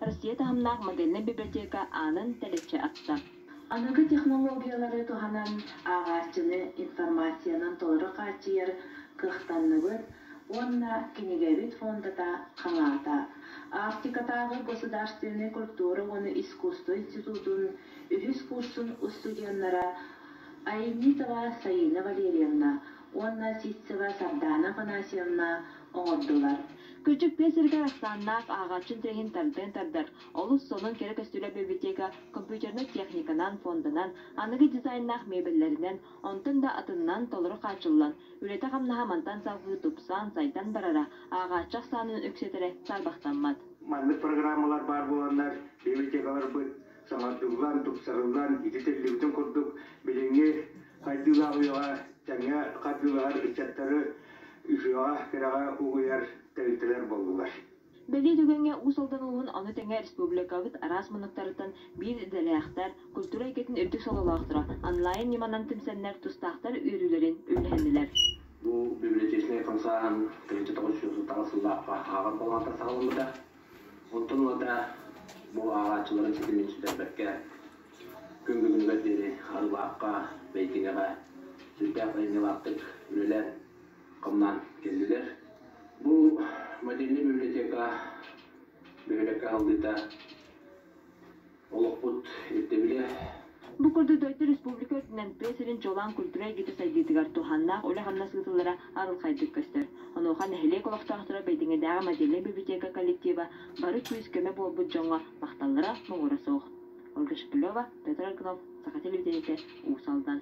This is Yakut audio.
Россия таһымнаах модельнай библиотека аанын тэлэччи ахта. Аныгы технологиялары туһанан ааҕааччыны информациянан толору хааччыйар кыахтанныбыт уонна кинигэбит фондата халаата. Арктикатааҕы государственнай культура уонна искусство институтун үһүс курсун устудьуоннара Аельмитова Саина Валерьевна уонна Ситцева Сардаана Афанасьевна оҥордулар. Көлчөк тыа сиригэр ахсааннаах ааҕааччы интэриэһин тардан тардар олус сонун кэрэ көстүүлээх бибилэтиэкэ компьютернай техниканан, фонданан, аныгы дизайннаах мебеллэринэн, онтон да атыннан толору хааччыллан, үлэтэ-хамнаһа мантан салгыы тупсан, сайдан барара ааҕааччы ахсаанын үксэтэрэ саарбахтаммат. Маннык программалар баар буоланнар, бибилэтиэкэлэрбыт Саҥардыллан, тупсарыллан ити тэрилибитин курдук билиҥҥи хайдыылаах үйэҕэ тэҥҥэ хардыылаһар ыччаттары үһүөҕэ, кэрэҕэ угуйар тэрилтэлэр буоллулар. Бэлиэ түгэҥҥэ Уус Алдан улууһун аны тэҥэ республикабыт араас муннуктарыттан биир идэлээхтэр, культура эйгэтин үрдүк сололоохторо онлайн ньыманан түмсэннэр тустаахтар үөрүүлэрин үллэһиннилэр. Бу библиотечнай хамсааһын тыһыынча тоҕус сүүс отуттан сыллаахха ааҕар болҕомто саҕаламмыта. Оттон уота бу ааҕааччыларын ситимин сүтэрбэккэ күн бүгүнүгэр диэри Арылаахха, Бэйтиҥэҕэ сүрдээх айымньылаахтык үлэлээн, хамнаан кэллилэр. Бу модельнай библиотека бөһүөлэккэ салгыыта олохпут ирдэбилэ Бу курдук дойду республика үрдүнэн тыа сирин чуолаан культура эйгэтэ сайдыытыгар туһааннаах үлэ-хамнас ыытыллара арылхайдык көстөр. Онуоха нэһилиэк олохтоохторо Бэйдиҥэдээҕи модельнай библиотека коллектива бары күүс-көмө буолбут дьоҥҥо махталлара муҥура суох. Ольга Шепелева, Петр Аргынов, Саха телевидениетэ, Уус Алдан.